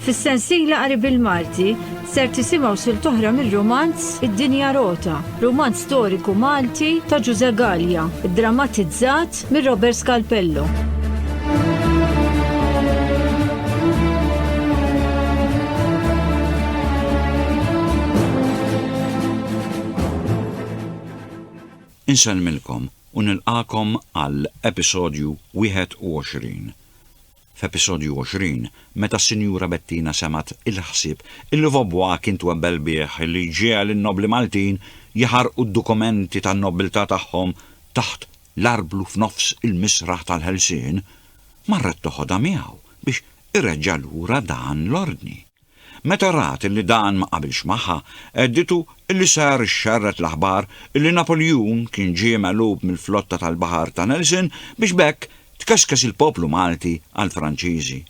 Fis-sensiela qari bil-Malti ser tisimgħu sil toħra mir-romanz Id-Dinja Rota, romanz storiku Malti ta' Ġuże Gallia, drammatizzat mir Robert Scalpello. Insellmilkom u nilqagħkom għal episodju 21. F'episodju 20, meta s-Sinjura Bettina semgħet il-ħsieb illi Vaubois kien twebbel bih li ġiegħel in-nobbli Maltin jaħarqu d-dokumenti tan-nobbiltà tagħhom taħt l-arblu f'nofs il-misraħ tal-ħelsien, marret toħodha miegħu biex ireġġa' lura dan l-ordni. Meta rat illi dan ma qabilx magħha, hedditu illi ser ixxerred l-aħbar illi Napoljun kien ġie megħlub mill-flotta tal-baħar ta' Nelson biex b'hekk tkeskes il-poplu Malti għall-Franċiżi.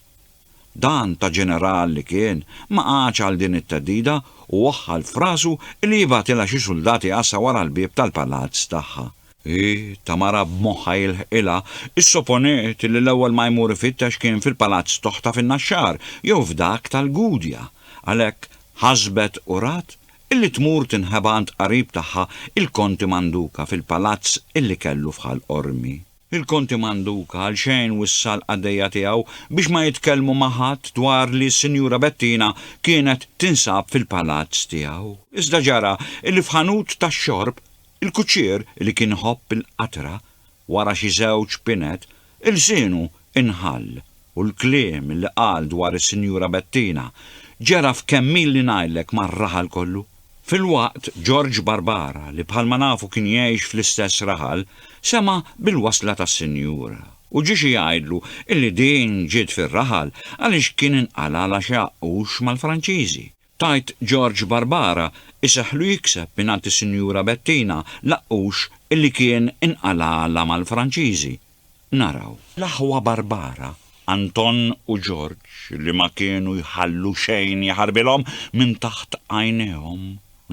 Dan ta' ġeneral li kien ma qagħadx għal din it-theddida u waħħal f'rasu illi jibgħatilha xi suldati għassa wara l-bieb tal-palazz tagħha. Hi, ta' mara b'moħħha jilħqilha, issoponiet li l-ewwel ma jmur ifittex kien fil-palazz t'oħtha fin-Naxxar jew f'dak tal-Gudja. Għalhekk ħasbet u rat illi tmur tinħeba għand qarib tagħha il-Konti Manduka fil-palazz illi kellu f'Ħal Qormi. Il-Konti Manduka għalxejn wissa l-qaddejja tiegħu biex ma jitkellmu ma' ħadd dwar li s-Sinjura Bettina kienet tinsab fil-palazz tiegħu. Iżda ġara illi f'ħanut tax-xorb Il-kuċċier li kien iħobb il-qatra, wara xi żewġ pinet, ilsienu inħall u l-kliem li qal dwar is-Sinjura Bettina ġera f'kemm illi ngħidlek mar-raħal kollu. Filwaqt Ġorġ Barbara, li bħalma nafu kien jgħix fl-istess raħal, sema' bil-wasla tas-Sinjura u ġie xi jgħidlu illi din ġiet fir-raħal għaliex kien inqalgħalha xi għaqqux mal-Franċiżi. Tgħid George Barbara iseħħlu jikseb mingħand is-Sinjura Bettina Laqqux illi kien inqalagħalha mal-Franċiżi. Naraw. L-aħwa Barbara, Anton u George li ma kienu jħallu xejn jaħarbilhom minn taħt għajnejhom,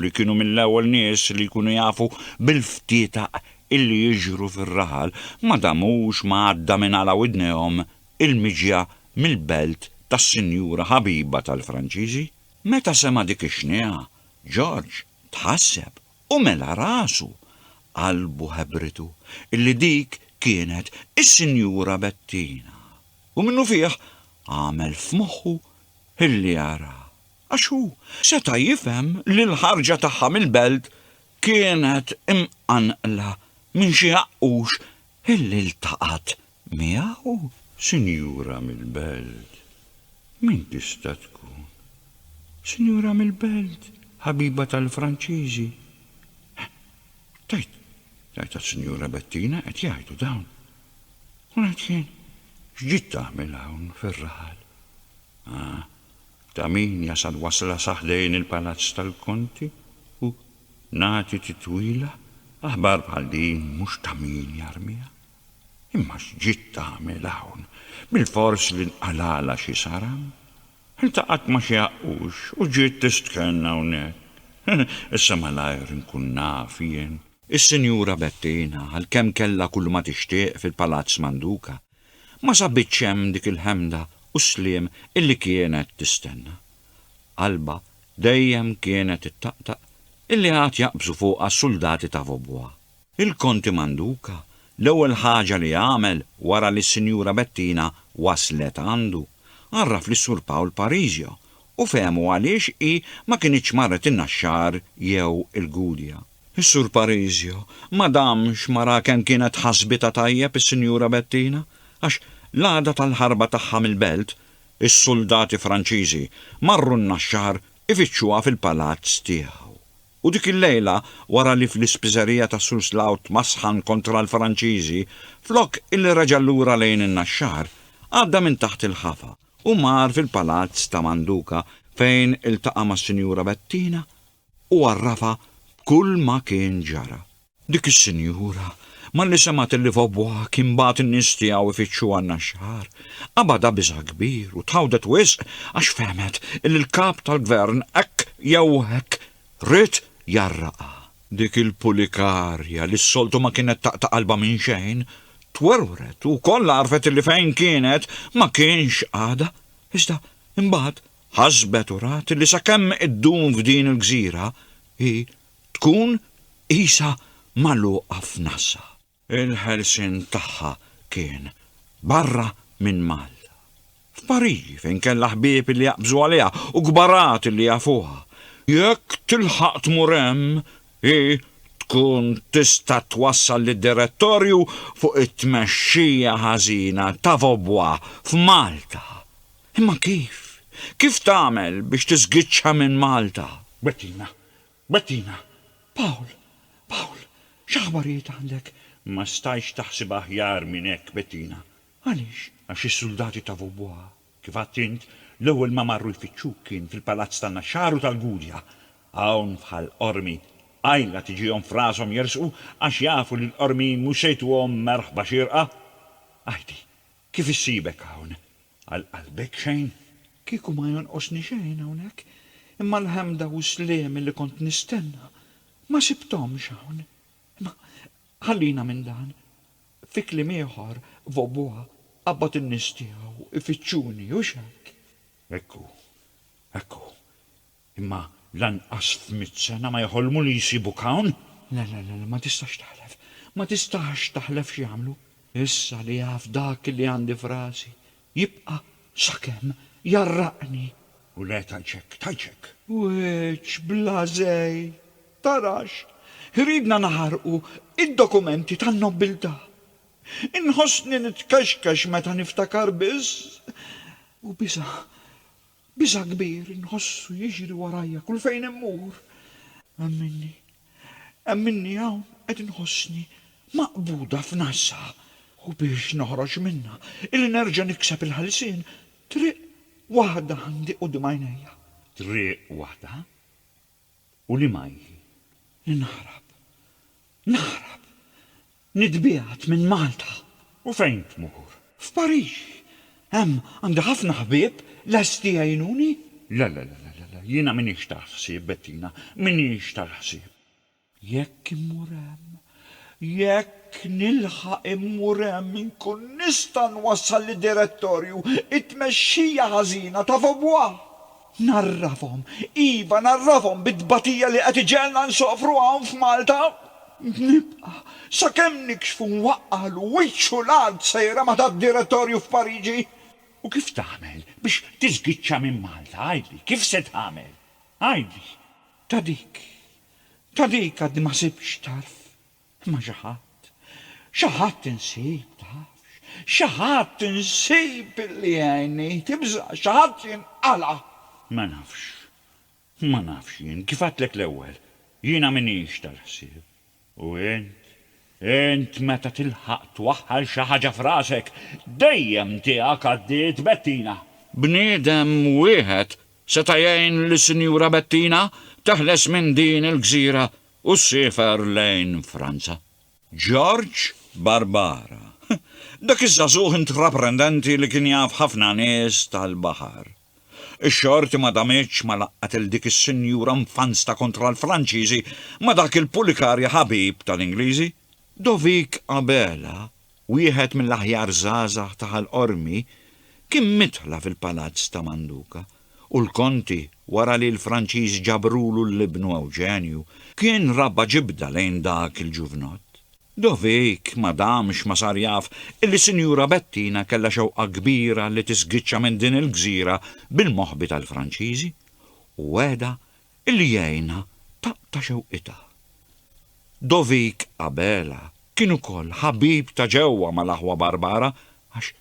li kienu mill-ewwel nies li jkunu jafu bil-ftietaq illi jiġru fir-raħal, ma damux ma għadda minn għala widnejhom il-miġja mill-belt tas-sinjura ħabiba tal-Franċiżi. Meta sema' dik ix-xniegħa, Ġorġ tħasseb u mela rasu. Qalbu ħebritu illi dik kienet is-Sinjura Bettina u minnufih għamel f'moħħu illi jaraha, għax hu seta' jifhem li l-ħarġa tagħha mill-belt kienet imqanqla minn xi għaqqux illi ltaqat Miegħu sinjura mill-belt? Min tista' tkun? Sinjura mill-belt, ħabiba tal-Franċiżi? Tgħid, tgħid għas-Sinjura Bettina qed jgħidu dawn. U ngħid jien, x'ġiet tagħmel hawn fir-raħal? Ah, ta' min jasal wasla sa ħdejn il-palazz tal-Konti u nagħti titwila, aħbar bħal din mhux ta' min jarmiha. Imma x'ġiet tagħmel hawn? Bilfors li nqalgħalha xi saram? Iltaqgħet ma' xi għaqqux u ġiet tistkenn hawnhekk. Issa malajr inkun naf jien. Is-Sinjura Bettina, għalkemm kellha kulma tixtieq fil-Palazz Manduca, ma sabitx hemm dik il-ħemda u s-sliem illi kienet tistenna. Qalbha dejjem kienet ittaqtaq illi għad jaqbżu fuqha s-suldati ta' Vaubois. Il-Konti Manduca l-ewwel ħaġa li għamel wara li s-Sinjura Bettina waslet għandu, għarraf lis-Sur Pawl Parisio u fehmu għaliex hi ma kinitx marret in-Naxxar jew il-Gudja. Is-Sur Parisio ma damx ma ra kemm kienet ħasbitha tajjeb is-Sinjura Bettina għax l-għada tal-ħarba tagħha mill-Belt, is-suldati Franċiżi marru n-Naxxar ifittxuha fil-palazz tiegħu. U dik il-lejla, wara li fl-ispiżerija ta' Suslao tmasħan kontra l-Franċiżi, flok illi reġa' lura lejn in-Naxxar, għadda minn taħt il-ħafa u mar fil-palazz ta' Manduka fejn iltaqa' mas-Sinjura Bettina u għarrafha b'kull ma kien ġara. Dik is-sinjura, malli semgħet li Vaubois kien bagħat in-nies tiegħu jfittxu għan-Naxxar, qabadha biża' kbir u tħawdet wisq għax fehmet li l-Kap tal-Gvern hekk jew hekk ried jarraqha. Dik il-Pulikarja li s-soltu ma kienet taqta' qalbha minn xejn, twerwret u kollha għarfet li fejn kienet ma kienx għadha, iżda imbagħad ħasbet u rat li sakemm iddum f'din il-gżira, hi tkun qisha magħluqa f'nasha. Il-ħelsien tagħha kien barra minn Malta. F'Pariġi fejn kellha ħbieb li jaqbżu għaliha u kbarat li jafuha. Jekk tilħaq tmur hemm, hi tkun tista' twassal lid-Direttorju fuq it-tmexxija ħażina ta' Vaubois f'Malta. Imma kif? Kif tagħmel biex tiżgiċċha minn Malta? Bettina, Bettina, Paul, Paul, x'aħbarijiet għandek? Ma stajtx taħsibha aħjar minn hekk, Bettina. Għaliex? Għax is-suldati ta' Vaubois, kif għedt int, l-ewwel ma marru jfittxuk kien fil-palazz tan-Naxxar u tal-Gudja. Hawn f'Ħal Qormi, qajla tiġihom f'rashom jersqu għax jafu li l-Qormijin mhux se jtuhom merħba xierqa. Għidi, kif issibek hawn? Għal qalbek xejn. Kieku ma jonqosni xejn hawnhekk, imma l-ħemda u s-sliem li kont nistenna ma sibthomx hawn. Imma ħallina minn dan. Fi kliem ieħor, Vaubois qabbad in-nies tiegħu jfittxuni, hux hekk? Hekk hu, hekk hu. Imma lanqas f'mitt sena ma jeħolmu li jsibuk hawn! Le, le, le, ma tistax taħlef, ma tistax taħlef x'jagħmlu. Issa li jaf dak li għandi f'rasi, jibqa' sakemm jgħarraqni! U le tgħidxek, tgħidxek! Wiċċ bla żejt! Tarax! Iridna naħarqu id-dokumenti tan-nobbiltà! Inħossni nitkexkex meta niftakar biss! U biża', Biża' kbir inħossu jiġri warajja kull fejn immur. Hemm minni. Hemm minni hawn qed inħossni maqbuda f'nasha u biex noħroġ minnha, illi nerġa' nikseb il-ħelsien, triq waħda għandi quddiem għajnejja. Triq waħda? U li ma hi, li naħrab, naħrab, nitbiegħed minn Malta! U fejn tmur? F'Pariġi! Hemm għandi ħafna ħbieb lesti jgħinuni. Le, le, le, le, le, jiena m'iniex tal-ħsieb, Bettina, m'iniex tal-ħsieb. Jekk immur hemm, Jekk nilħaq immur hemm inkun nista' nwassal lid-direttorju t-tmexxija ħażina ta' Vaubois. Ngħarrafhom, iva ngħarrafhom bit-tbatija li qed iġegħelna nsofru hawn f'Malta. Nibqa', sakemm nikxfu nwaqqagħlu wiċċu l-art sejra ma' tad-direttorju f'Pariġi. U kif tagħmel biex tiżgiċċa minn Malta, għidli, kif se tagħmel? Għidli. Ta' dik, Ta' dik għadni ma ħsibtx tarf, imma xi ħadd, xi ħadd insib, tafx, xi ħadd insib li jgħinni, tibża', xi ħadd jinqala'. Ma nafx, ma nafx jien, kif għedtlek l-ewwel, jiena m'iniex tal-ħsieb, u int, Int meta tilħaq twaħħal xi ħaġa f'rasek, dejjem tiegħek għaddiet Bettina. Bniedem wieħed seta' jgħin lis-Sinjura Bettina teħles minn din il-gżira u ssiefer lejn Franza. George Barbara, dak iż-żagħżugħ intraprendenti li kien jaf ħafna nies tal-baħar. Ix-xorti ma damitx ma laqqgħet 'il dik is-sinjura mfansta kontra l-Franċiżi ma' dak il-pulikarja ħabib tal-Ingliżi. Dovic Abela, wieħed mill-aħjar żgħażagħ ta' Ħal Qormi, kien midħla fil-Palazz ta' Manduka, u l-Konti, wara li l-Franċiżi ġabrulu 'l ibnu Ewġenju, kien rabba' ġibda lejn dak il-ġuvnott. Dovic ma damx ma sar jaf illi Sinjura Bettina kellha xewqa kbira li tisgiċċa minn din il-gżira bil-moħbi tal-Franċiżi u wegħda illi jgħinha taqta' xewqitha. Dovic Abela kien ukoll ħabib ta' ġewwa mal-aħwa Barbara għax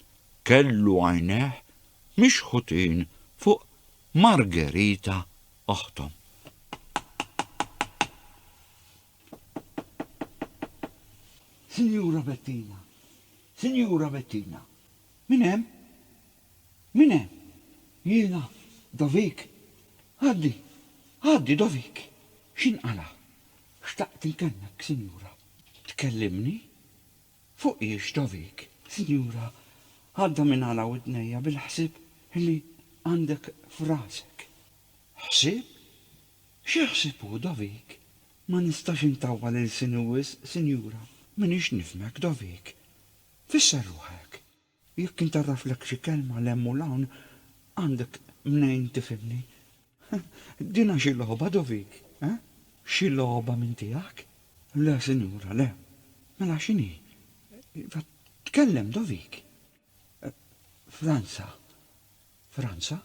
kellu għajnejh mixħutin fuq Margherita oħthom. Sinjura Bettina! Sinjura Bettina! Min hemm? Min hemm? Jiena, Dovik. Għaddi, għaddi, Dovik! X'inqala'? Xtaqt inkelmek, Sinjura. Tkellimni? Fuq hiex, Dovik? Sinjura, għadda minn għala widnejja bil-ħsieb li għandek f'rasek. Ħsieb? Xi ħsieb hu Dovik? Ma nistax intawwal ilsini wisq, sinjura. M'iniex nifhmek, Dovik. Fisser ruħek. Jekk intarraflek xi kelma 'l hemm u 'l hawn, għandek mnejn tifhimni. Dinha xi logħba, Dovik, eh? Xi logħba minn tiegħek? Le, sinjura, le. Mela x'inhi? Iva, tkellem, Dovik. Franza. Franza?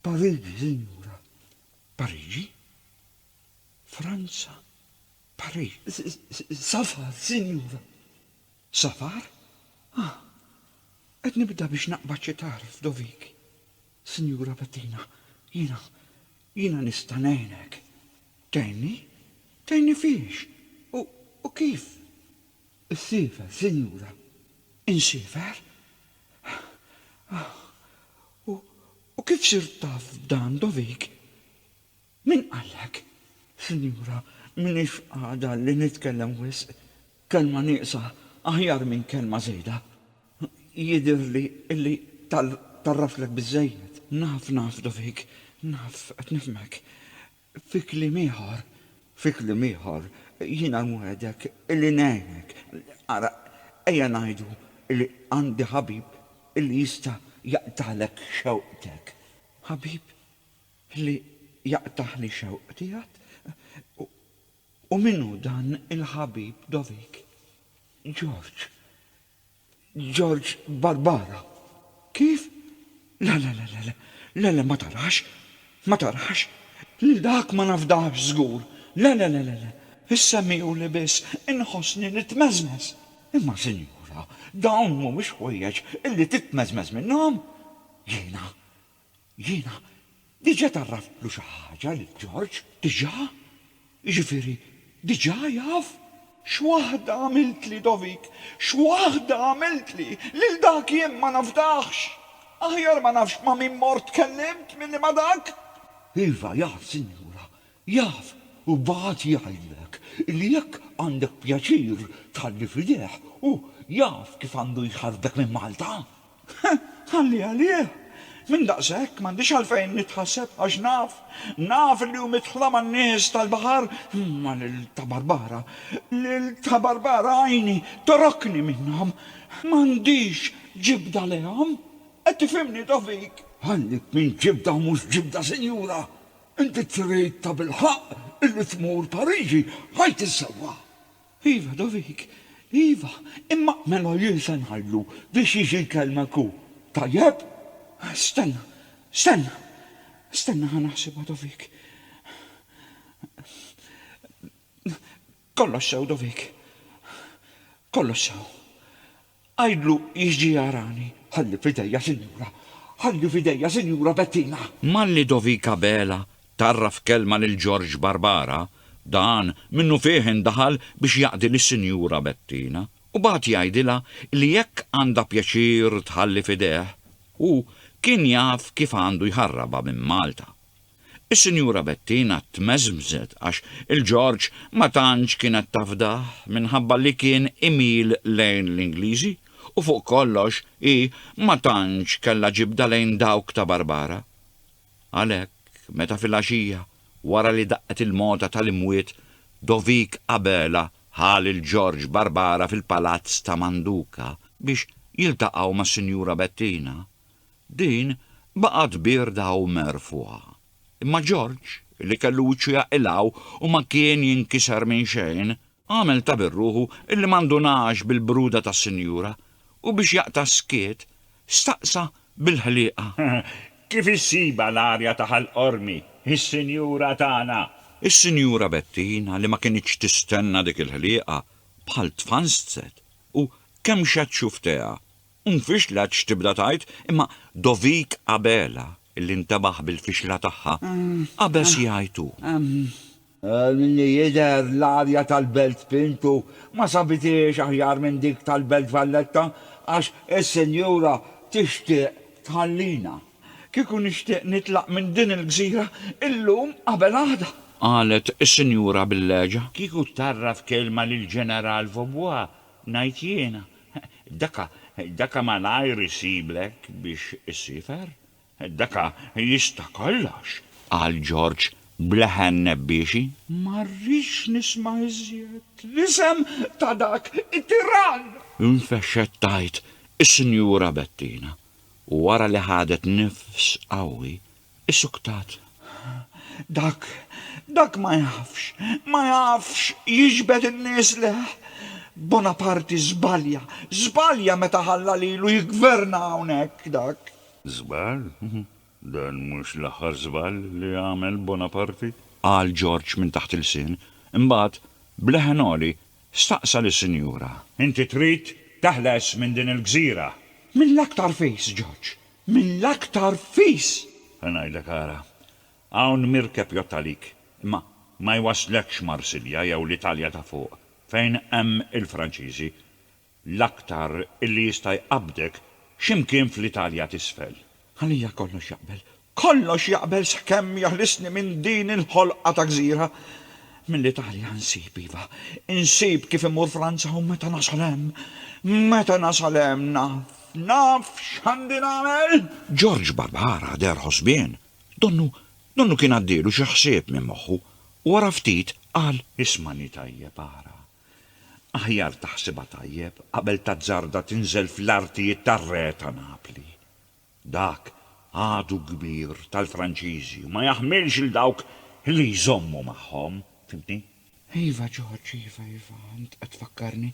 Pariġi, sinjura. Pariġi? Franza? Pariġi? Safar, sinjura. Safar? Ah, qed nibda biex naqbad xi tarf dovik. Sinjura Bettina, jiena, jiena nista' ngħinek. Tgħinni? Tgħinni f'iex? U, u kif? Issiefer, sinjura. Insiefer? U kif sirt taf b'dan, Dovik? Min qallek? Sinjura, m'iniex f'qagħda li nitkellem wisq. Kelma nieqsa aħjar minn kelma żejda. Jidhirli li tarraftlek biżżejjed. Naf, naf, Dovik, naf, qed nifhmek. Fi kliem ieħor, fi kliem ieħor, jiena nwegħdek illi ngħinek. Ara, ejja ngħidu illi għandi ħabib illi jista' jaqtagħlek xewqtek. Ħabib li jaqtagħli xewqti għad? U min hu dan il-ħabib dovik? George, George Barbara, Kif? Le, le, le, le, le, le, le, ma tarax, ma tarax, lil dak ma nafdahx żgur, le, le, le, le, le, issemmihuli biss inħossni nitmeżmeż. Imma sinjura, dawn mhumiex ħwejjeġ illi titmeżmeż minnhom! Jiena, Jiena diġà tgħarraftlu xi ħaġa lil George, diġà. Jiġifieri diġà jaf. X'waħda għamiltli, Dovik, x'waħda għamiltli! Lil dak jien ma nafdahx! Aħjar ma nafx ma' min mort tkellimt milli ma' dak! Iva, jaf, sinjura, Jaf u bagħat jgħidlek li jekk għandek pjaċir tħalli f'idejh hu jaf kif għandu jħarrtek minn Malta? Ħalli għalih! Minn daqshekk m'għandix għalfejn nitħasseb għax naf, naf li hu midħla man-nies tal-baħar, imma lil Ta' Barbara, lil Ta' Barbara għajni torokni minnhom. M'għandix ġibda lejhom. Qed tifhimni, Tofik? Ħallik minn ġibda u mhux ġibda, sinjura! Inti trid tabilħaqq illi tmur Pariġi għid is-sewwa! Iva, Dovic, iva, imma mela jien se ngħidlu biex jiġi jkellmek hu, tajjeb? Stenna, stenna, stenna ħa naħsibha, Dovic. Kollox sew, Dovic. Kollox sew. Għidlu jiġi jarani. Ħalli f'idejja Sinjura. Ħalli f'idejja Sinjura Bettina. Malli Dovik Abela tgħarraf kelma lil Ġorġ Barbara, dan minnufih indaħal biex jaqdi lis-Sinjura Bettina u bagħat jgħidilha li jekk għandha pjaċir tħalli f'idejh, hu kien jaf kif għandu jħarrabha minn Malta. Is-Sinjura Bettina tmeżmżet għax il-Ġorġ ma tantx kienet tafdah minħabba li kien imil lejn l-Ingliżi u fuq kollox hi ma tantx kellha ġibda lejn dawk ta' Barbara. Għalhekk, meta filgħaxija, wara li daqqet il-mogħta tal-imwiet, Dovik Abela ħa lil Ġorġ Barbara fil-palazz ta' Manduka biex jiltaqgħu mas-Sinjura Bettina, Din baqgħet bierda u merfugħa. Imma Ġorġ, li kellu wiċċu jaqilgħu u ma kien jinkiser minn xejn, għamel ta' birruħu illi ma ndunax bil-bruda tas-sinjura u biex jaqta' s-skiet, staqsa bil-ħliqa. Kif issibha l-arja ta' Ħal Qormi, is-sinjura tagħna? Is-Sinjura Bettina li ma kinitx tistenna dik il-ħliqa, bħal tfanstset u kemxet xufftejha Nfixlet x'tibda tgħid, imma Dovik Abela, illi ntebaħ bil-fixla tagħha, qabeż jgħid hu. Għal min li jidher, l-arja tal-Belt Pintu ma sabithiex aħjar minn dik tal-Belt Valletta għax is-Sinjura tixtieq tħallina. Kieku nixtieq nitlaq minn din il-gżira illum qabel għada! Qalet is-Sinjura bil-leġa. Kieku tgħarraf kelma lill-Ġeneral Vaubois Ngħid jiena, daka, daka malajr isiblek biex issiefer. Daka jista' kollox! qal Ġorġ b'leħen nebbiexi. Ma rridx nisma' iżjed l-isem ta' dak it-tirann! Infexxet tgħid is-Sinjura Bettina u wara li ħadet nifs qawwi, Issuktat. Dak, dak ma jafx, ma jafx jiġbed in-nies leh. Bonaparte żbalja, żbalja meta ħalla lilu jiggverna hawnhekk, dak. Żball? Dan mhux l-aħħar żball li għamel Bonaparte. Qal Ġorġ minn taħt il-lsien. Imbagħad, b'leħen għoli, staqsa lis-sinjura. Inti trid teħles minn din il-gżira? Mill-aktar fis, Ġorġ, Mill-aktar fis! Se ngħidlek ara. Hawn mirkeb jgħodd għalik, imma ma jwasslekx Marsilja jew l-Italja ta' fuq, fejn hemm il-Franċiżi, l-aktar illi jista' jqabbdek xi mkien fl-Italja t'isfel. Għalija kollox jaqbel. Kollox jaqbel sakemm jeħlisni minn din il-ħolqa ta' gżira. Mill-Italja nsib, iva, insib kif immur Franza u meta nasal hemm, meta nasal hemm naf Naf x'għandi nagħmel! George Barbara deher ħosbien. Donnu, donnu kien għaddielu xi ħsieb minn moħħu u wara ftit qal. Ismagħni tajjeb ara. Aħjar taħsibha tajjeb qabel tazzarda tinżel fl-artijiet tar-Re ta' Napli. Dak għadu kbir tal-Franċiżi u ma jaħmilx 'l dawk li jżommu magħhom, fhimtni? Iva George, iva, iva, int qed tfakkarni.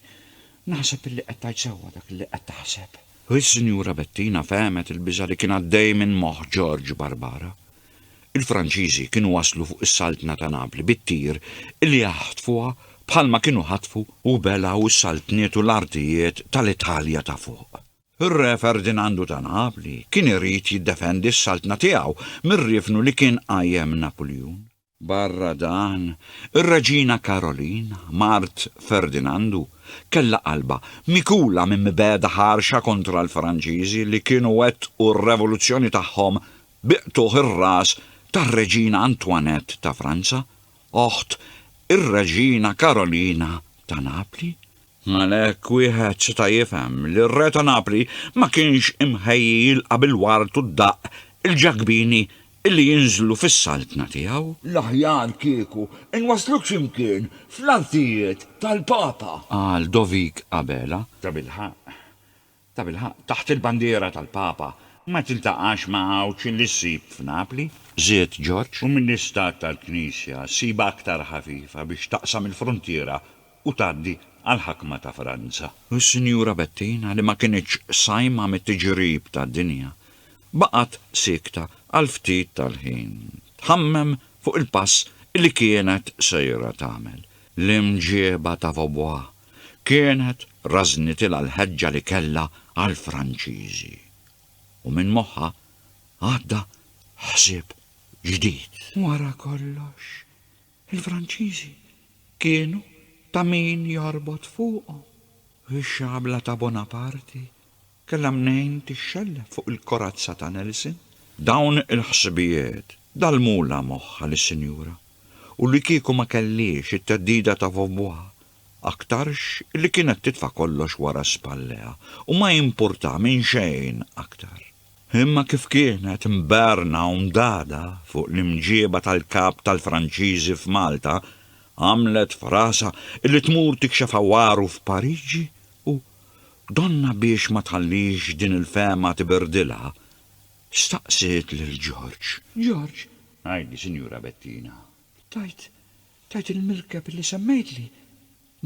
Naħseb illi qed tgħid sewwa dak illi qed taħseb. U s-Sinjura Bettina fehmet il-biża' li kien għaddej minn moħħ George Barbara. Il-Franċiżi kienu waslu fuq is-Saltna ta' Napli bit-tir illi jaħtfuha bħalma kienu ħatfu u belgħu s-saltniet u l-artijiet tal-Italja ta' fuq. Ir-Re Ferdinandu ta' Napli kien irid jiddefendi s-Saltna tiegħu mir-riefnu li kien qajjem Napuljun. Barra dan, ir-Reġina Karolin, mart Ferdinandu, kellha qalbha mikula minn mibegħda ħarxa kontra l-Franċiżi li kienu wettqu r-revoluzzjoni tagħhom bi qtugħ ir-ras tar-Reġina Antoinette ta' Franza, oħt ir-Reġina Karolina ta' Napli. Għalhekk wieħed seta' jifhem li r-Re ta' Napli ma kienx imħejji jilqa' bil-ward u d-daqq il-Ġakbini illi jinżlu fis-saltna tiegħu. L-aħjar kieku nwasluk xi mkien fl-artijiet tal-Papa! Qal Dovik Abela. Tabilħaqq, Tabilħaqq, taħt il-bandiera tal-Papa ma tiltaqax ma' għawġ li ssib f'Napli, żied George, u mill-istat tal-Knisja ssibha aktar ħafifa biex taqsam il-fruntiera u tgħaddi għall-ħakma ta' Franza. U s-Sinjura Bettina, li ma kinitx sajma mit-tiġrib tad-dinja, baqgħet siekta għal ftit tal-ħin, tħammem fuq il-pass li kienet sejra tagħmel, l-imġieba ta' Vaubois, kienet rażnitilha l-ħeġġa li kellha għall-Franċiżi u minn moħħha għadda ħsieb ġdid. Wara kollox, il-Franċiżi kienu ta' min jorbot fuqhom. Ix-xabla ta' Bonaparti Kellha mnejn tixxellef fuq il-korazza ta' Nelson. Dawn il-ħsibijiet dallmulha moħħha lis-sinjura u li kieku ma kellhiex it-theddida ta' vovwuha, aktarx illi kienet titfa' kollox wara spalleha u ma jimpurtha minn xejn aktar. Imma kif kienet mberna u mdagħda fuq l-imġieba tal-Kap tal-Franċiżi f'Malta, għamlet f'rasha illi tmur tikxef għawaru f'Pariġi u, Donna biex ma tħallix din il-fehma tibirdilha, staqsiet lil George. George, għidi, Sinjura Bettina, tajt, tajt il-mirkeb li semmejtli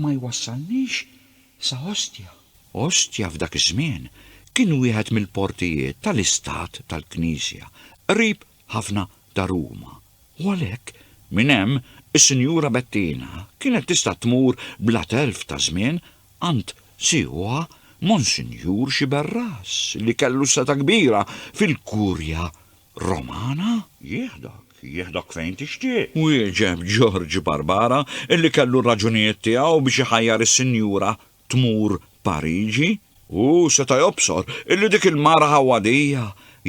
ma jwassalnix sa Ostia. Ostia f'dak iż-żmien kien wieħed mill-portijiet tal-istat tal-Knisja, qrib ħafna ta' Ruma, u għalhekk, minn hemm, is-Sinjura Bettina kienet tista' tmur bla telf ta' żmien għand sieħuha Monsinjur Sciberras li kellu setgħa kbira fil-Kurja Romana. Jieħdok, jieħdok fejn tixtieq, wieġeb Ġorġ Barbara, li kellu r-raġunijiet tiegħu biex iħajjar is-Sinjura tmur Pariġi? Hu seta' jobsor illi dik il-mara ħawadija,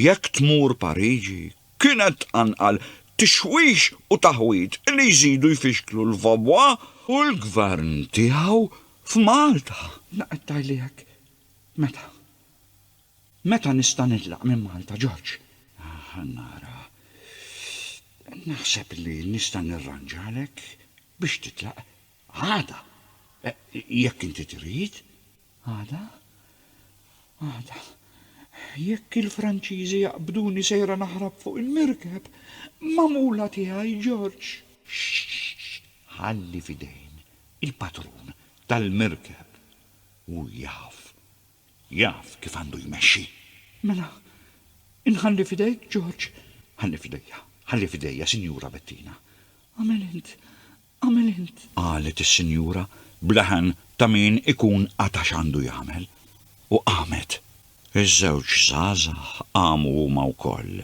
jekk tmur Pariġi, kienet tqanqal tixwix u taħwid illi jżidu jfixklu l-Vaubois u l-Gvern tiegħu f'Malta. La qed tgħidli hekk? Meta? Meta nista' nitlaq minn Malta, George? Ħa nara. Naħseb li nista' nirranġalek biex titlaq Għada, jekk inti trid. Għada? Għada. Jekk il-Franċiżi jaqbduni sejra naħrab fuq il-mirkeb, magħmula tiegħi, George! Xxxx! Ħalli f'idejn il-patrun tal-mirkeb. Hu jaf. Jaf kif għandu jmexxi. Mela, inħalli f'idejk, George? Ħalli f'idejja, ħalli f'idejja, Sinjura Bettina. Agħmel int, Agħmel int! Qalet is-sinjura b'leħen ta' min ikun qata' x'għandu jagħmel, u qamet. Iż-żewġ żgħażagħ qamu huma wkoll,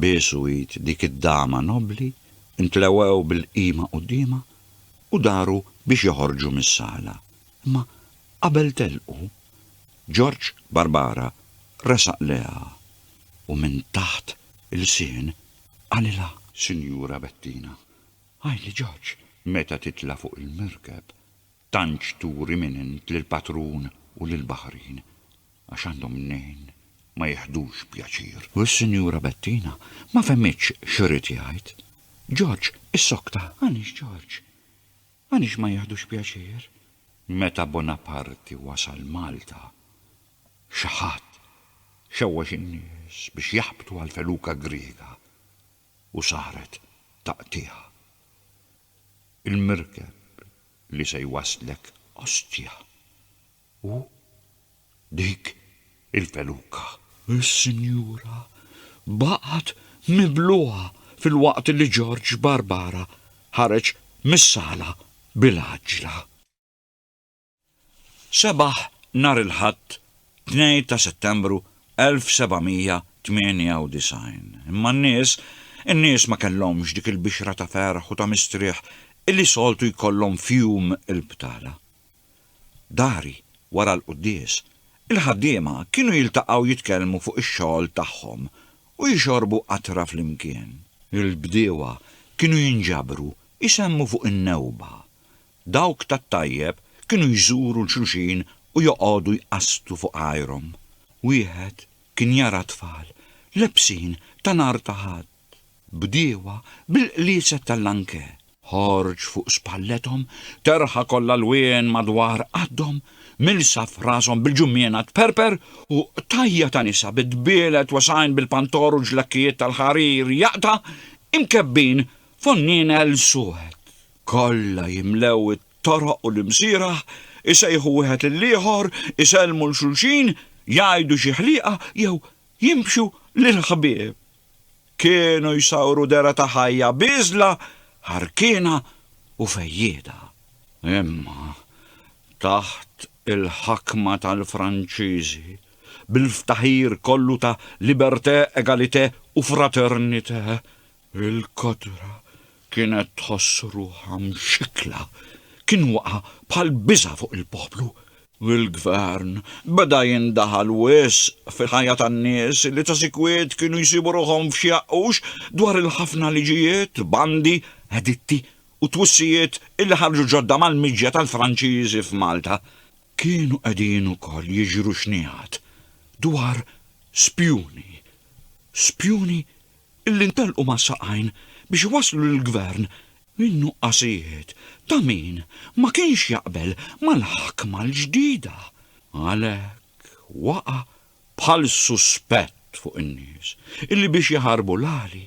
biesu id dik id-dama nobbli, intlewgħew bil-qima quddiemha, u daru biex joħorġu mis-sala. Imma qabel telqu, Ġorġ Barbara resaq lejha u minn taħt ilsien qalilha. Sinjura Bettina, Hi li ġaġ, meta titla' fuq il-merkeb, tantx turi minn int lill-patrun u lill-baħrin, għax għandhom mnejn ma jiħdux pjaċir. U s-Sinjura Bettina ma fehmitx x'ried jgħid. Ġorġ issokta. Għaliex, Ġorġ? Għaliex ma jiħdux pjaċir? Meta Bonaparti wasal Malta, xi ħadd xewwex in-nies biex jaħbtu għall-feluka Griega. u saret taqtigħ. Il-merkeb li se jwasslek Ostia hu dik il-feluka. Is-sinjura baqgħet mibluha filwaqt li George Barbara ħareġ mis-sala bil-għaġġla. Sebaħ nhar il-Ħadd 2 ta' Settembru 1798, imma n-nies, in-nies ma kellhomx dik il-bixra ta' ferħ u ta' mistrieħ illi soltu jkollhom f'jum il-btala. Dari wara l-quddies, il-ħaddiema kienu jiltaqgħu jitkellmu fuq ix-xogħol tagħhom u jixorbu qatra flimkien. Il-bdiewa kienu jinġabru jsemmu fuq in-newba Dawk tat-tajjeb kienu jżuru 'l xulxin u joqogħdu jqasstu fuq għajrhom. Wieħed kien jara tfal lebsin ta' nhar ta' Ħadd, bdiewa bil-qliset tal-lankè. Ħorġ fuq spallethom terħa kollha lwien madwar qaddhom, milsa f'rashom bil-ġummiena tperper u qtajja' ta' nisa bi dbielet wesgħin bil-pantor u ġlakkijiet tal-ħarir jaqta' imkebbin f'onnienel suwed. Kollha jimlew it-toroq u l-imsieraħ, isejħu wieħed lill-ieħor, isellmu 'l xulxin, jgħidu xi ħliqa jew jimxu lill-ħbieb. Kienu jsawru dehra ta' ħajja bieżla, ħarkiena u fejjieda. Imma taħt il-ħakma tal-Franċiżi, bil-ftaħir kollu ta' liberté, égalité u fraternité, Il-kotra kienet tħoss ruħha mxikkla. Kien waqa' bħal biża' fuq il-poplu, u l-gvern beda jindaħal wisq fil-ħajja tan-nies li ta' sikwit kienu jsibu ruħhom f'xi għaqqux dwar il-ħafna liġijiet, bandi, editti u twissijiet li ħarġu ġodda mal-miġja tal-Franċiżi f'Malta. Kienu qegħdin ukoll jiġru xnigħat dwar spjuni. Spjuni illi ntelqu mas-saqajn biex iwasslu lill-Gvern min-nuqqasijiet ta' min ma kienx jaqbel mal-ħakma l-ġdida. Għalhekk waqa' bħal suspett fuq in-nies illi biex jaħarbu l-għali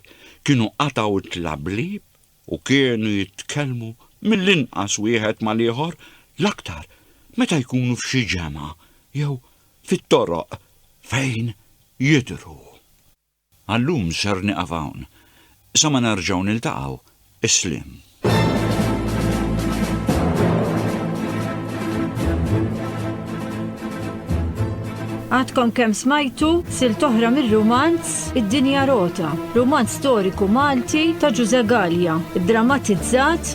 kienu qatgħu t-tlablieb u kienu jitkellmu mill-inqas wieħed mal-ieħor l-aktar meta jkunu f'xi ġemgħa jew fit-toroq fejn jidhru. Għal-lum ser nieqaf hawn. Sa ma nerġgħu niltaqgħu, is-sliem. Għadkom kemm smajtu silt oħra mir-rumanz Id-Dinja Rota, rumanz storiku Malti ta' Ġużè Galea, ddramatizzat